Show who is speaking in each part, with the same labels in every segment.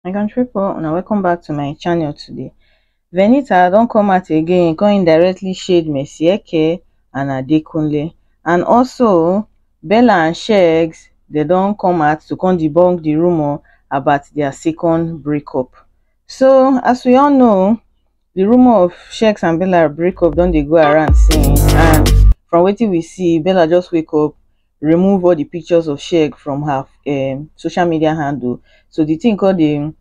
Speaker 1: my country people una welcome back to my channel today venita don come out again come indirectly shade mercy eke and adekunle and also bella and shegs they don come out to come debunk the rumor about their second breakup so as we all know The rumour of Shex and Bella breakup don dey go around since and from wetin we see, Bella just wake up, remove all the pictures of Shex from her um, social media handle. So the thing come dey,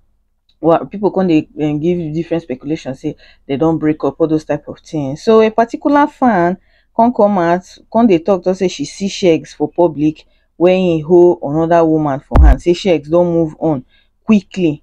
Speaker 1: well, people come dey um, give different speculation say they don break up, all those type of things. So a particular fan come come out, come dey talk, talk say she see Shex for public when he hold another woman for hand, say Shex don move on quickly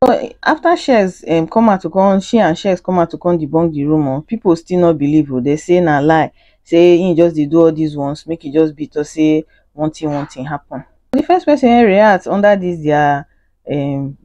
Speaker 1: but after shears um come out to come she and shears come out to come debunk the rumour people still no believe o dey say na lie say him just dey do all this ones make e just be to say one thing one thing happen the first person wey react under this their um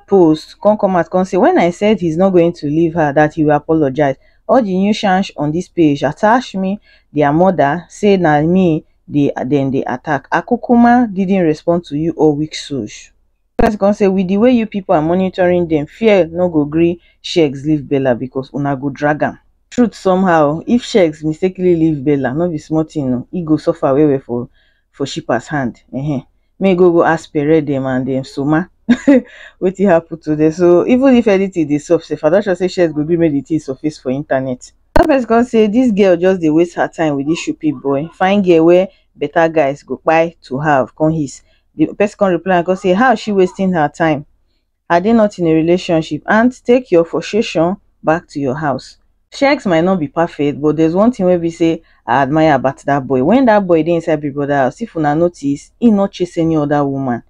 Speaker 1: post come come out come say when I said he's not going to leave her that he will apologize all the new shansh on this page attach me their mother say na me dey dem dey attack I kukuma didn't respond to you all weak souls Bella come say with the way you people are monitoring them, fear no go gree Shegs leave Bella because una go drag am. Truth somehow, if Shegs mistakenly leave Bella, no be small thing o, e go suffer well well for for Shippa's hand ehen. Make e go go ask Pere dem and um Soma wetin happen to them. So even if anything dey sup sef, I don sure say Shegs go gree make the thing surface for internet. Another person come say this girl just dey waste her time with this Shupi boy, fine girl wey better guys go kpai to have come hiss. the person come reply am come say how is she wasting her time are they not in a relationship and take your frustration back to your house Shex might not be perfect but there's one thing wey be say I admire about that boy when that boy dey inside Big Brother house if una notice he no chase any other woman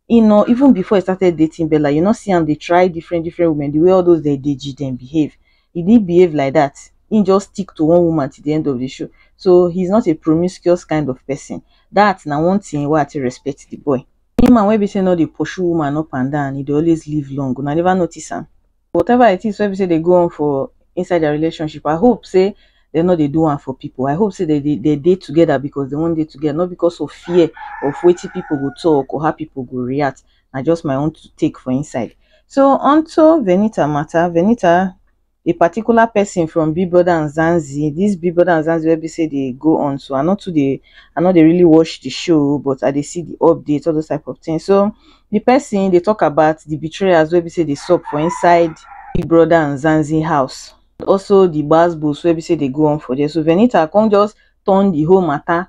Speaker 1: he no even before he started dating Bella you no see am dey try different different women the way all those their deji dem behave he didn't behave like that. He just stick to one woman till the end of the show. So he's not a promiscuous kind of person. That now one thing where I to respect the boy. Any man wey be say no dey pursue woman up and down, he dey always live long. Una never notice am. Whatever it is wey be say they go on for inside their relationship, I hope say they no dey do one for people. I hope say they they, they dey together because they want dey together, not because of fear of wetin people go talk or how people go react. na just my own take for inside. So onto Venita matter, Venita a particular person from Big Brother and Zanzi, this Big Brother and Zanzi wey be say dey go on so I no too dey I no dey really watch the show but I dey see the updates all those type of things. So the person dey talk about the betrayers wey be say dey sup for inside Big Brother and Zanzi house. Also the gbas gbos wey be say dey go on for there. So Venita come just turn the whole matter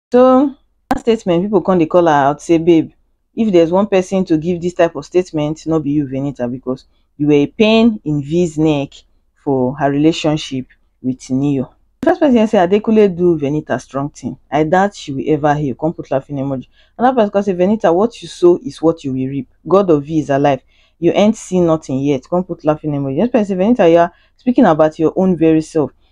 Speaker 1: So dat statement pipu come dey call her out sey babe if there is one person to give dis type of statement no be you Venita because you were a pain in V's neck for her relationship with Neo. Di first person yarn sey Adekunle do Venita strong thing I doubt she will ever heal come put laughing emoji. Another person come say Venita what you sow is what you will reap God of V is alive you ain't seen nothing yet come put laughing emoji. Di next person say Venita you are speaking about your own very self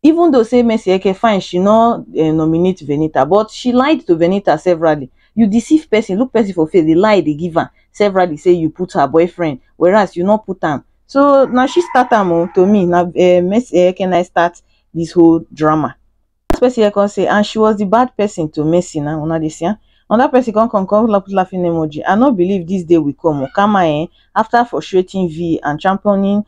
Speaker 1: Even though say Mercyeke fine, she no um nominate Venita but she lied to Venita severally. You deceive person, look person for face dey lie dey give am severally say you put her boyfriend whereas you no put am. So na she start am o, to me na um Mercyeke na im start this whole drama. First person come say and she was the bad person to Mercy na, una dey see am? Another person come come come put laughing emoji, I no believe this day will come o, karma um after frustrating Vee and championing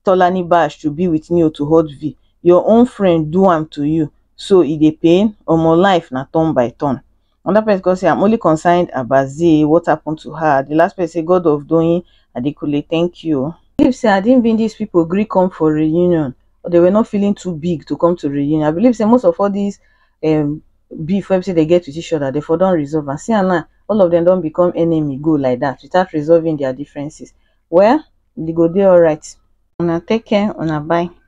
Speaker 1: tolani bash to be with neo to hurt vee your own friend do am to you so e dey pain omo life na turn by turn another person come say i'm only concerned about zee what happened to her the last person say god of doyin adekunle thank you believe say had it been these people gree come for reunion or they were not feeling too big to come to reunion i believe say most of all these um beef wey be say dem get with each other, dem for don resolve am. See am now, all of dem don become enemy go like that without resolving their differences. Well, you go dey alright. Una take care, una bye.